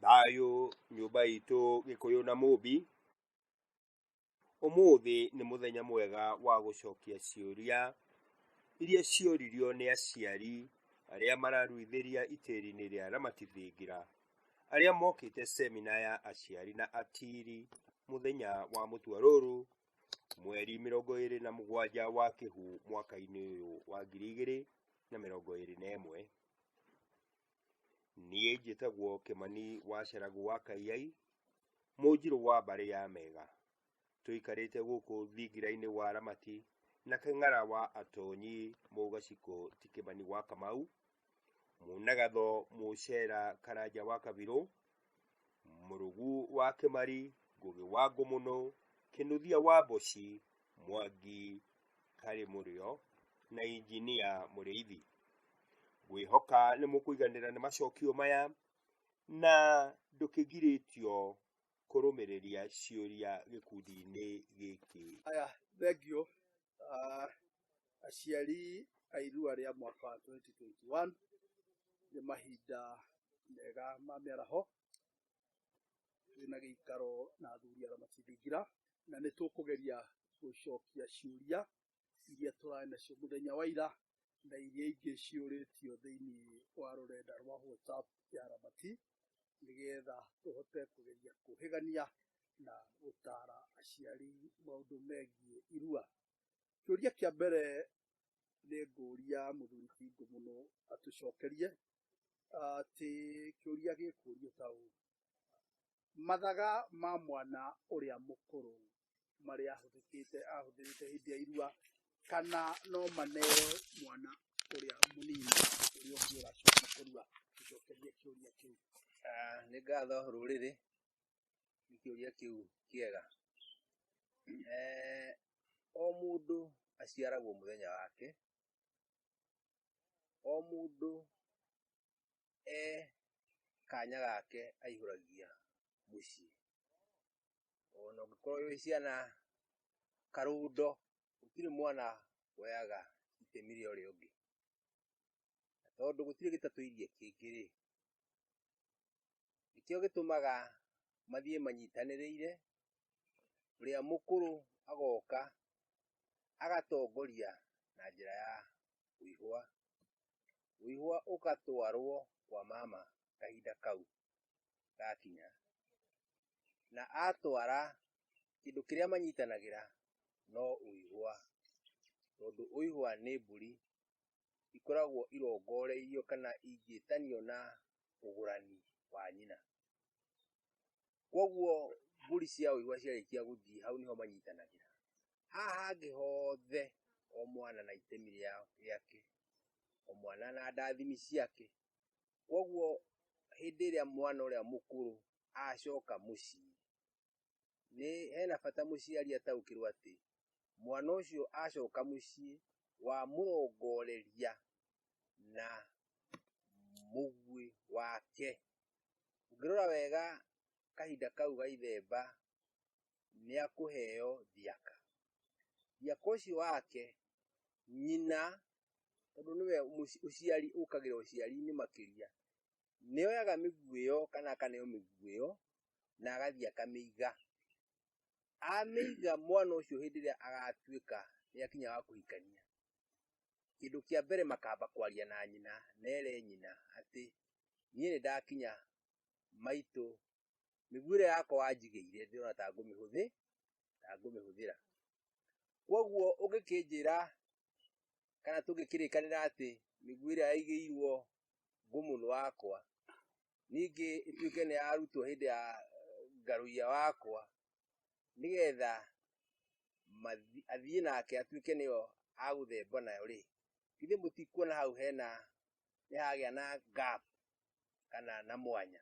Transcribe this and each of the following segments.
Thayũ nyũmba itũ gĩkũyũ na mũmbi, ũmũthĩ nĩ mũthenya mwega wa gũcokia ciũria iria cioririo nĩ aciari arĩa mararuithĩria itĩri-inĩ rĩa Ramati Thingira, arĩa mokĩte cemina ya aciari na atiri mũthenya wa mũtua rũrũ mweri mĩrongo ĩrĩ na mũgwanja wa kĩhu mwaka-inĩ ũyũ wa ngiri igĩrĩ na mĩrongo ĩrĩ na ĩmwe. niĩ njĩtagwo kĩmani wa ceragu wa kaiyai mũnjirũ wa mbarĩ ya mega tũikarĩte gũkũ thingira-inĩ wa ramati na kĩng'ara wa atonyi mũgaciko ti kĩmani wa kamau munagatho mũcera karanja wa kabirũ mũrũgu wa kĩmari ngũgĩ wa ngũmũnũ kĩnuthia wa mboci mwangi karĩ mũrĩo na injinia mũrĩithi ngwĩhoka nĩ mũkũiganĩra nĩ macokio maya na ndũkĩgirĩtio kũrũmĩrĩria ciũria gĩkundi-inĩ gĩkĩ aya thengio ah, aciari a irua rĩa mwaka wa 2021 nĩ mahinda mega ma mĩaraho twĩna gĩikaro na athuri arĩa matindingira na nĩ tũkũgeria gũcokia ciũria iria tũrarĩ nacio mũthenya wa ira na iria ingĩ ciũrĩtio thĩinĩ wa rũrenda rwa WhatsApp ya Ramati nĩgetha tũhote kũgeria kũhĩgania na gũtara aciari maũndũ megiĩ irua. Kĩũria kĩa mbere nĩ ngũria mũthuri Bingo mũno atũcokerie atĩ kĩũria gĩkũrio ta ũũ, mathaga ma mwana ũrĩa mũkũrũ marĩa ahũthĩkĩte ahũthĩrĩte hĩndĩ ya irua kana no maneo mwana ũrĩa mũnini ũrĩa ũngĩ ũracoka kũrua gũcokeria kĩũria kĩu Ah, nĩ ngatho rũrĩrĩ nĩ kĩũria kĩu kĩega Eh, o mũndũ aciaragwo mũthenya wake o mũndũ e kanya gake aihũragia mũciĩ ona ũngĩkorwo wĩ ciana karundo gũtirĩ mwana woyaga itemi rĩa ũrĩa ũngĩ na tondũ gũtirĩ gĩtatũirie kĩngĩ rĩ nĩkĩo gĩtũmaga mathiĩ manyitanĩrĩire ũrĩa mũkũrũ agoka agatongoria na njĩra ya ũihwa ũihwa ũgatwarwo kwa mama kahinda kau gakinya na atwara kĩndũ kĩrĩa manyitanagĩra no ũihwa tondũ ũihwa nĩ mbũri ikoragwo irongoreirio kana ingĩtanio na ũgũrani wa nyina kwoguo mbũri cia ũihwa ciarĩkia gũthiĩ hau nĩho manyitanagĩra haha hangĩ hothe o mwana na itemi rĩake o mwana na ndathimi ciake Koguo hĩndĩ ĩrĩa mwana ũrĩa mũkũrũ acoka mũciĩ, nĩ hena bata mũciari ataũkĩrwo atĩ mwana ũcio acoka mũciĩ wamũrongoreria na mũguĩ wake. Ũngĩrora wega kahinda kau ga ithemba nĩ akũheo thiaka. Thiaka ũcio wake nyina, tondũ nĩwe ũciari ũkagĩra ũciari-inĩ makĩria, nĩ oyaga mĩguĩ ĩyo kana akaneo mĩguĩ ĩyo na agathiĩ akamĩiga. Amĩiga mwana ũcio hĩndĩ ĩrĩa agatuĩka nĩ akinya wa kũhikania, kĩndũ kĩa mbere makamba kwaria na nyina na ere nyina atĩ niĩ nĩ ndakinya maitũ mĩguĩ ĩrĩa yakwa wanjigĩire ndĩrona ta ngũmĩhũthĩ ta ngũmĩhũthĩra kwoguo ũngĩkĩnjĩra kana tũngĩkĩrĩkanĩra atĩ mĩguĩ ĩrĩa yaigĩirwo ngũmũnũ wakwa ningĩ ĩtuĩke nĩ yarutwo hĩndĩ ya eh, ngarũia wakwa nĩgetha athiĩ nake atuĩke nĩyo agũthemba nayo rĩ githĩ mũtikuona hau hena nĩ hagĩa na gap kana na mwanya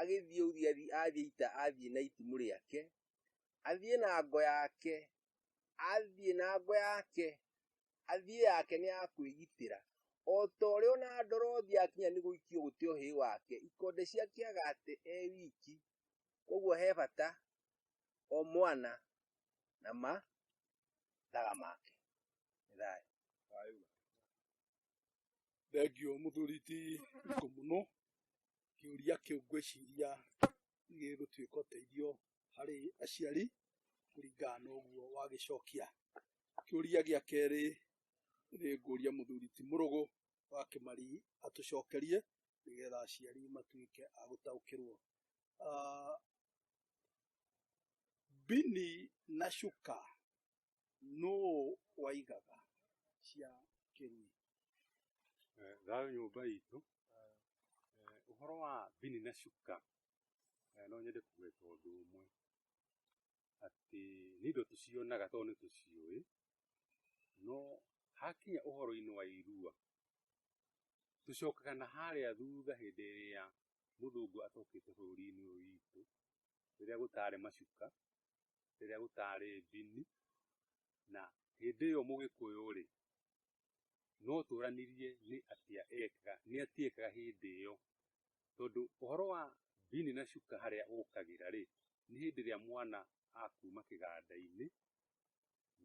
agĩthiĩ Urieli athiĩ ita athiĩ na itimũ rĩake athiĩ na ngo yake athiĩ na ngo yake athiĩ yake nĩ ya kwĩgitĩra o ta ũrĩa ona ndorothi akinya nĩ gũikio gũte ũhĩ wake ikonde ciake agate e wiki koguo he bata o mwana na mathaga make nĩ thayũ Thengio mũthuri ti ikũ mũno, kĩũria kĩu ngwĩciria gĩgũtuĩka ũteithio harĩ aciari kũringana na ũguo wagĩcokia. Kĩũria gĩa kerĩ nĩ ngũria mũthuri ti mũrũgũ wa kĩmari atũcokerie nĩgetha aciari matuĩke a gũtaũkĩrwo. Ah, Mbini na cuka nũ waigaga cia kĩrui Eh, thayũ nyũmba itũ Eh, ũhoro wa bini na cuka eh, no nyende kũgweta ũndũ ũmwe atĩ nĩ indo tũcionaga tondũ nĩ tũciũĩ no hakinya ũhoro-inĩ wa irua tũcokaga na harĩa thutha hĩndĩ ĩrĩa mũthũngũ atokĩte bũrũri-inĩ ũyũ witũ rĩrĩa gũtarĩ macuka rĩrĩa gũtaarĩ ndini, na hĩndĩ ĩyo Mũgĩkũyũ-rĩ, no tũranirie nĩ atĩa ekaga, nĩ atĩa ekaga hĩndĩ ĩyo. Tondũ ũhoro wa mbini na cuka harĩa ũkagĩra-rĩ, nĩ hĩndĩ ĩrĩa mwana akuma kĩganda-inĩ,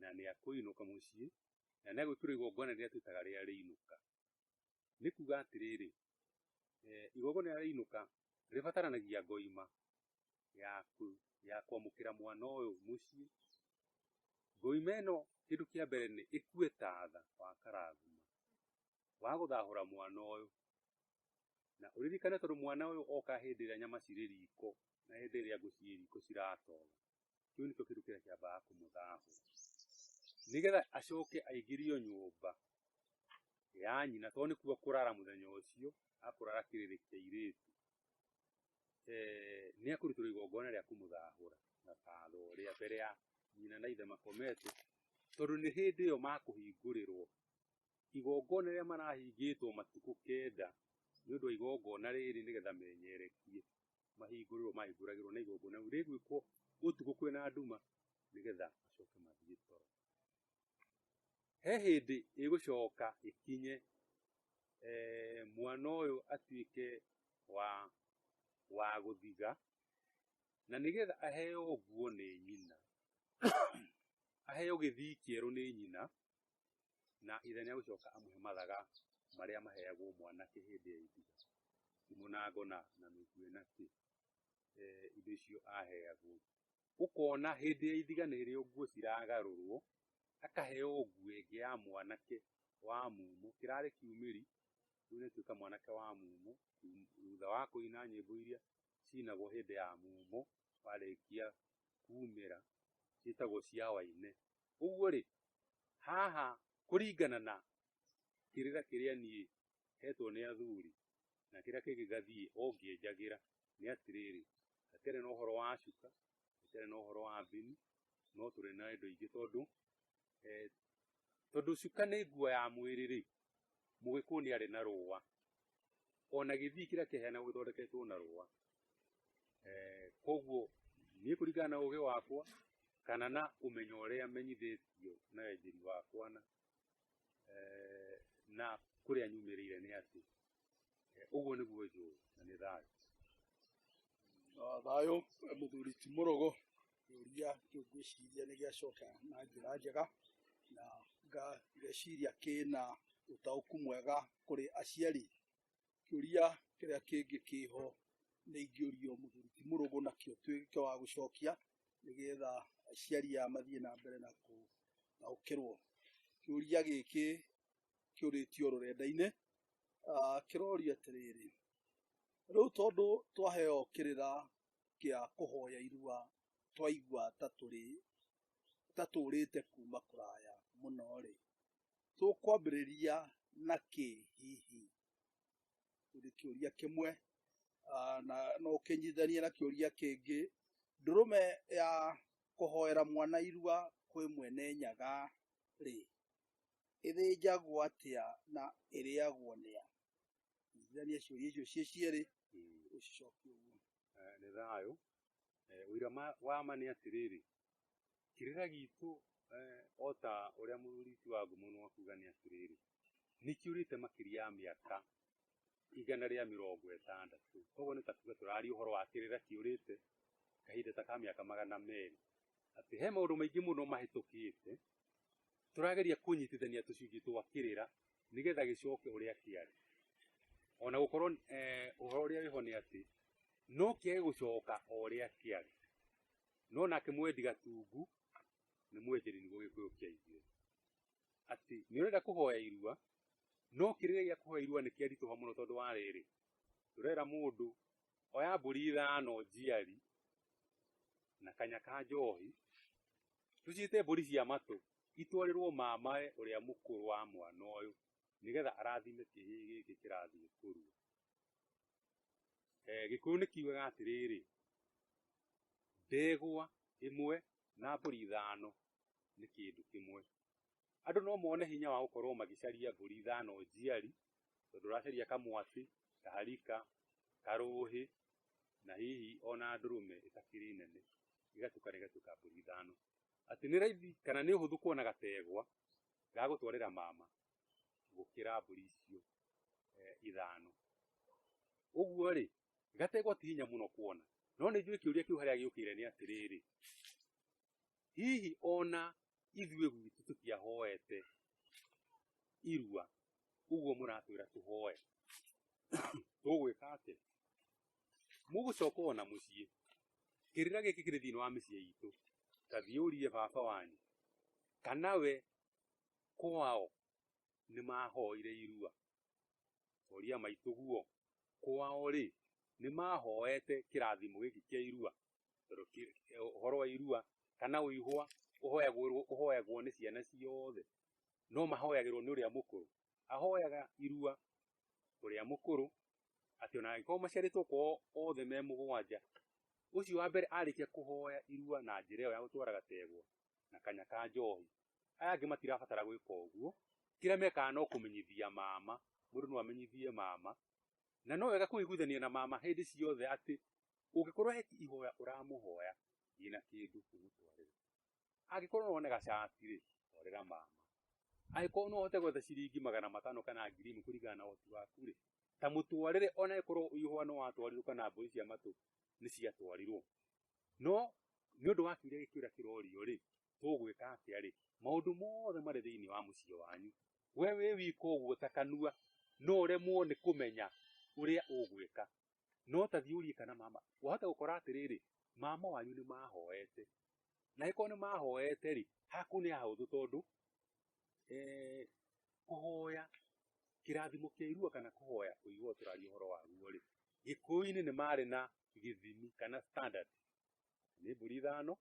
na nĩ akũinũka mũciĩ, na nĩ agwĩkĩrwo igongona rĩrĩa twĩtaga rĩa rĩinũka. nĩ kuga atĩrĩrĩ, eh, igongona rĩa rĩinũka rĩbataranagia ngoima ya kũ- ya kwamũkĩra mwana ũyũ mũciĩ. Ngoima ĩno kĩndũ kĩa mbere nĩ ĩkue tatha wa karathima wa gũthahũra mwana ũyũ, na ũririkane tondũ mwana ũyũ oka hĩndĩ ĩrĩa nyama cirĩ riko na hĩndĩ ĩrĩa ngũ cirĩ riko ciratoga. kĩu nĩkĩo kĩndũ kĩrĩa kĩambaga kũmũthaahũ nĩgetha acoke aingĩrio nyũmba ya nyina tondũ nĩ kuo kũrara mũthenya ũcio akũrara kĩrĩrĩ kĩa irĩtu nĩ akũrutĩrwo igongona rĩa kũmũthahũra na tatho rĩa mbere ya nyina na ithe makomete tondũ nĩ hĩndĩ ĩyo makũhingũrĩrwo igongona rĩrĩa marahingĩtwo matukũ kenda nĩ ũndũ wa igongona rĩrĩ nĩgetha menyerekie mahingũrĩrwo mahingũragĩrwo na igongona rĩu rĩgwĩkwo ũtukũ kwĩna nduma nĩgetha macoke mathiĩ toro he hĩndĩ ĩgũcoka ĩkinye eh, mwana ũyũ atuĩke wa wa gũthiga na nĩgetha aheo nguo nĩ nyina aheo gĩthii kĩerũ nĩ nyina na ithe nĩegũcoka amũhe mathaga marĩa maheagwo mwanake hĩndĩ ya ihiga ndimũ na ngona na mĩguĩ na kĩ eh, indo icio aheagwo ũkona hĩndĩ ya ithiga nĩ rĩo nguo ciragarũrwo akaheo nguo ĩngĩ ya mwanake wa mumo kĩrarĩ kiumĩri rĩu nĩtuĩka mwanake wa mumo thum- thutha wa kũina nyĩmbo iria cinagwo hĩndĩ ya mumo warĩkia kumĩra ciĩtagwo cia waine Koguo rĩ, haha kũringana na kĩrĩra kĩrĩa niĩ hetwo nĩ athuri na kĩrĩa kĩngĩ gathiĩ ũngĩenjagĩra nĩ atĩrĩrĩ, hatarĩ na ũhoro wa cuka, hatarĩ na ũhoro wa mbini, no tũrĩ na indo ingĩ tondũ, tondũ cuka nĩ nguo ya mwĩrĩ rĩ, Mũgĩkũyũ nĩ arĩ na rũa, ona gĩthii kĩrĩa kĩheanagwo gĩthondeketwo na rũa. Eh, koguo niĩ kũringana na ũgĩ wakwa kana na ũmenyo ũrĩa menyithĩtio na wenjeri wakwa na eh, na kũrĩa nyumĩrĩire nĩ atĩ Eh, ũguo nĩguo njũĩ na nĩ thayũ Ah, thayũ eh, mũthuri ti mũrogo kĩũria kĩu ngwĩciria nĩ gĩacoka na njĩra njega na nga- ngeciria kĩna ũtaũku mwega kũrĩ aciari kĩũria kĩrĩa kĩngĩ kĩho nĩ ingĩũrio mũthuri ti mũrũgũ nakĩo tuĩke wa gũcokia nĩgetha aciari aya mathiĩ na mbere na kũtaũkĩrwo kĩũria gĩkĩ kĩũrĩtio rũrenda-inĩ ah, kĩroria atĩrĩrĩ rĩu tondũ twaheo kĩrĩra kĩa kũhoya irua twaigua ta tũrĩ ta tũũrĩte kuma kũraya mũno rĩ tũkwambĩrĩria na kĩ hihi nĩ kĩũria kĩmwe ah, na no ũkĩnyithanie na kĩũria kĩngĩ ndũrũme ya kũhoera mwana irua kwĩ mwene nyaga rĩ ĩthĩnjagwo atĩa na ĩrĩagwo nĩ a? Nyitithania ciũria icio ciĩ cierĩ Mm. ũcicokie ũguo. Eh, nĩ thayũ Eh, ũira ma- wa ma nĩ atĩrĩrĩ kĩrĩra gitũ eh, o ta ũrĩa mũthuri ti wa ngũmũnũ akuga nĩ atĩrĩrĩ nĩ kĩũrĩte makĩria ya mĩaka igana rĩa mĩrongo ĩtandatũ koguo nĩ ta kuga tũraria ũhoro wa kĩrĩra kĩũrĩte kahinda ta ka mĩaka magana merĩ atĩ he maũndũ maingĩ mũno mahĩtũkĩte turageria kunyitithania tucunjĩ twa kirira nigetha gicoke uria kiari ona gukorwo eh, uhoro uria wiho ni ati no kiage gucoka uria kiari no nake mwendi gatungu ni mwenjeri niguo gikuyu kia ithuĩ ati ni urenda kuhoya irua no kirira gia kuhoya irua ni kiarituha muno tondu wa riri turera mundu oya mburi ithano njiari na kanya ka njohi tũciĩte mbũri cia matũ itwarĩrwo mamae ũrĩa mũkũrũ wa mwana ũyũ nĩgetha arathime kĩhĩ gĩkĩ kĩrathiĩ kũrua eh, gĩkũyũ nĩ kiugaga atĩrĩrĩ ndegwa ĩmwe na mbũri ithano nĩ kĩndũ kĩmwe andũ no mone hinya wa gũkorwo magĩcaria mbũri ithano njiari, tondũ ũracaria kamwatĩ, kaharika, karũhĩ, na hihi ona ndũrũme ĩtakĩrĩ nene, igatukana igatuĩka mbũri ithano. Atĩ nĩ raithi kana nĩ ũhũthũ kuona gategwa ga gũtwarĩra mama gũkĩra mbũri icio ithano. Ũguo rĩ, gategwa ti hinya mũno kuona. No nĩ njũĩ kĩũria kĩu harĩa gĩũkĩire nĩ atĩrĩrĩ, hihi ona ithuĩ gwitũ tũtiahoete irua ũguo mũratwĩra tũhoe tũgwĩka atĩ mũgũcoka ona mũciĩ kĩrĩra gĩkĩ kĩrĩ thĩinĩ wa mĩciĩ itũ tathiĩ ũrie baba wanyu kana we kwao nĩ mahoire irua oria maitũguo kwao rĩ nĩ mahoete kĩrathimo gĩkĩ kĩa irua ũhoro wa irua kana ũihwa ũhoyagwo ũhoyagwo nĩ ciana ciothe no mahoyagĩrwo nĩ ũrĩa mũkũrũ ahoyaga irua ũrĩa mũkũrũ atĩ ona angĩkorwo maciarĩtwo kwao othe me mũgwanja ũcio wa mbere arĩkia kũhoya irua na njĩra ĩyo ya gũtwara gategwa na kanya ka njohi aya angĩ matirabatara gwĩka ũguo kĩrĩa mekaga no kũmenyithia mama mũndũ no amenyithie mama na no wega kũiguithania na mama hĩndĩ ciothe atĩ Ũngĩkorwo he ihoya ũramũhoya ina kĩndũ ũmũtwarĩre. Angĩkorwo no one gacati rĩ, twarĩra mama. Angĩkorwo no ũhote gwetha ciringi magana matano kana ngiri ĩmwe kũringana na ũhoti waku rĩ, ta mũtwarĩre ona ĩkorwo ihũa nĩ watwarirwo kana mbũri cia matũ nĩ ciatwarirwo. No nĩ ũndũ wa kĩũria gĩkĩ ũrĩa kĩrorio rĩ, tũgwĩka atĩa rĩ, maũndũ mothe marĩ thĩinĩ wa mũciĩ wanyu. We wĩ wika ũguo ta kanua no ũremwo nĩ kũmenya ũrĩa ũgwĩka. no ta thiĩ ũrie kana mama wahota gũkora atĩrĩrĩ mama wanyu nĩ mahoete na ĩkorwo nĩ mahoete rĩ haku nĩ hahũthũ tondũ eh, kũhoya kĩrathimo kĩa irua kana kũhoya kũigua tũraria ũhoro waguo rĩ gĩkũyũ-inĩ nĩ marĩ na gĩthimi kana standard nĩ mbũri ithano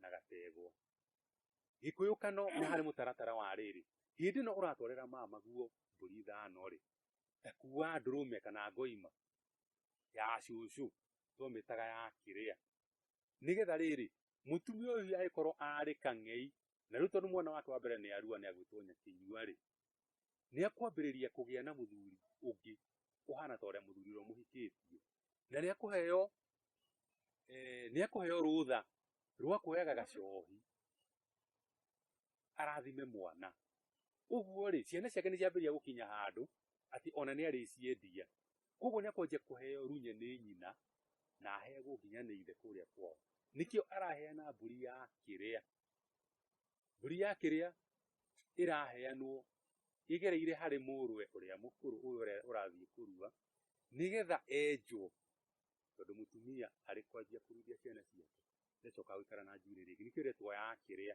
na gategwa gĩkũyũ kano nĩ harĩ mũtaratara wa rĩrĩ hĩndĩ ĩno ũratwarĩra mama guo mbũri ithano rĩ Takua ndũrũme kana ngoima ya cũcũ twamĩtaga ya kĩrĩa nĩgetha rĩrĩ mũtumia ũyũ agĩkorwo arĩ kang'ei na rĩu tondũ mwana wake wa mbere nĩ arua nĩ agwĩtwo nyakĩnyua rĩ nĩ akwambĩrĩria kũgĩa na mũthuri ũngĩ ũhana ta ũrĩa mũthuri ũrĩa mũhikĩtie na nĩ akũheo eh, nĩ akũheo rũtha rwa kuoyaga gacohi arathime mwana ũguo rĩ ciana ciake nĩ ciambĩrĩria gũkinya handũ atĩ ona nĩ arĩciendia koguo nĩ akwanjia kũheo runye nĩ nyina na aheagwo nginya nĩ ithe kũrĩa kwao nĩkĩo araheana mbũri ya kĩrĩa mbũri ya kĩrĩa ĩraheanwo ĩgereire harĩ mũrũwe ũrĩa mũkũrũ ũyũ ũrĩa ũrathiĩ kũrua nĩgetha enjwo tondũ mũtumia arĩ kwanjia kũruithia ciana ciake ndacoka gũikara na njuĩrĩ rĩngĩ nĩkĩo ĩretwo ya kĩrĩa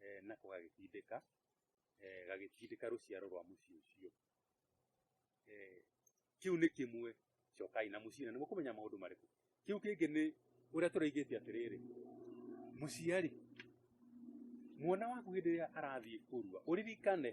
eh, nako gagĩtindĩka eh, gagĩtindĩka rũciaro rwa mũciĩ ũcio eh, kĩu nĩ kĩmwe cokai na mũciĩ na nĩ mũkũmenya maũndũ marĩkũ kĩu kĩngĩ nĩ ũrĩa tũraigĩte atĩrĩrĩ mũciari mwana waku hĩndĩ ĩrĩa arathiĩ kũrua ũririkane